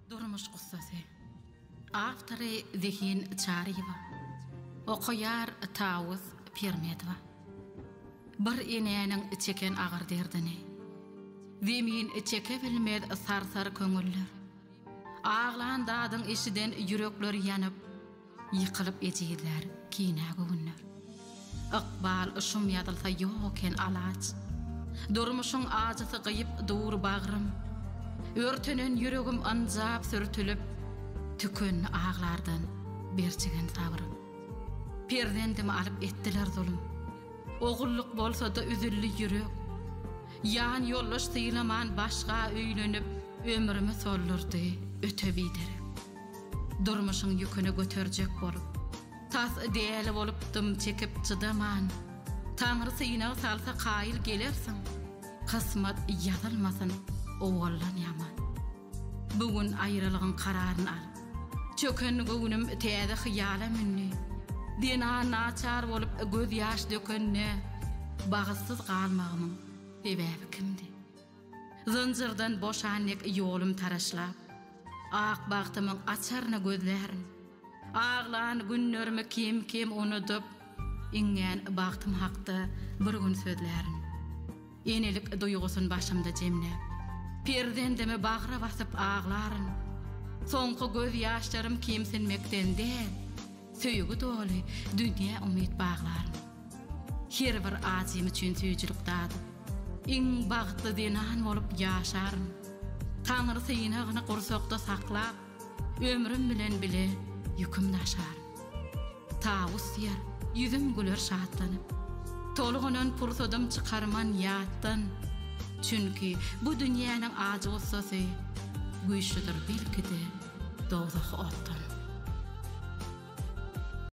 Durmuş gussasy. Awtory Zehin Çaryýewa. Okaýar Tawus Pirmedowa. Bir enäniň çeken agyr derdini. Zemin çekebilmez sarsar köňüller. Aglan dadyň eşiden ýürekler ýanyp. Ýykylyp ejizler kinä göwünler. Ykbal şum ýazylsa ýok eken alaç. Durmuşyň ajysy gyýyp dur bagrym. Örtenen ýüregim ynjap sürtülip. Tükendi aglardan berçigen sabrym. Perzendimi alyp etdiler zulum. Ogullyk bolsada üzüldi ýürek. Ýan ýoldaş sylaman başga öýlenip. Ömrümi soldurdy öte biderek. Durmuşyň ýüküni göterjek bolup. Tas däli bolup dym çekip çydaman. Taňry synag salsa kaýyl gelersiň. Kysmat ýazylmasyn owaldan ýaman. Bu gün aýralygyň kararyn al. Çöken göwnüm täze hyýala mündi. Dena naçar bolup gözýaş dökende, bagytsyz galmagymyň sebäbi kimdi? Zynjyrdan boşan dek ýolum taraşlap, Ak bagtymyň açaryny gözlärin. Aglan günlerimi kem-kem unudyp, Iňňän bagtym hakda bir gün sözlärin. Enelik duýgusyn başymda jemläp, Perzendimi bagra basyp aglaryn. Soňky gözýaşlarym kemsinmekden däl. Söýgi doly dünýä umyt baglaryn. Her bir adym üçin süýjülik dadyp. Iň bagtly zenan bolup ýaşaryn. Taňry synagyny gursakda saklap, Ömrüm bilen bile ýüküm daşaryn. Tawus diýer, ýüzüm güler şatlanyp. Tolgunan pursadym çykarman ýatdan. Çünki bu dünýäniň ajy-gussasy güýçlüdir belki-de dowzah otdan.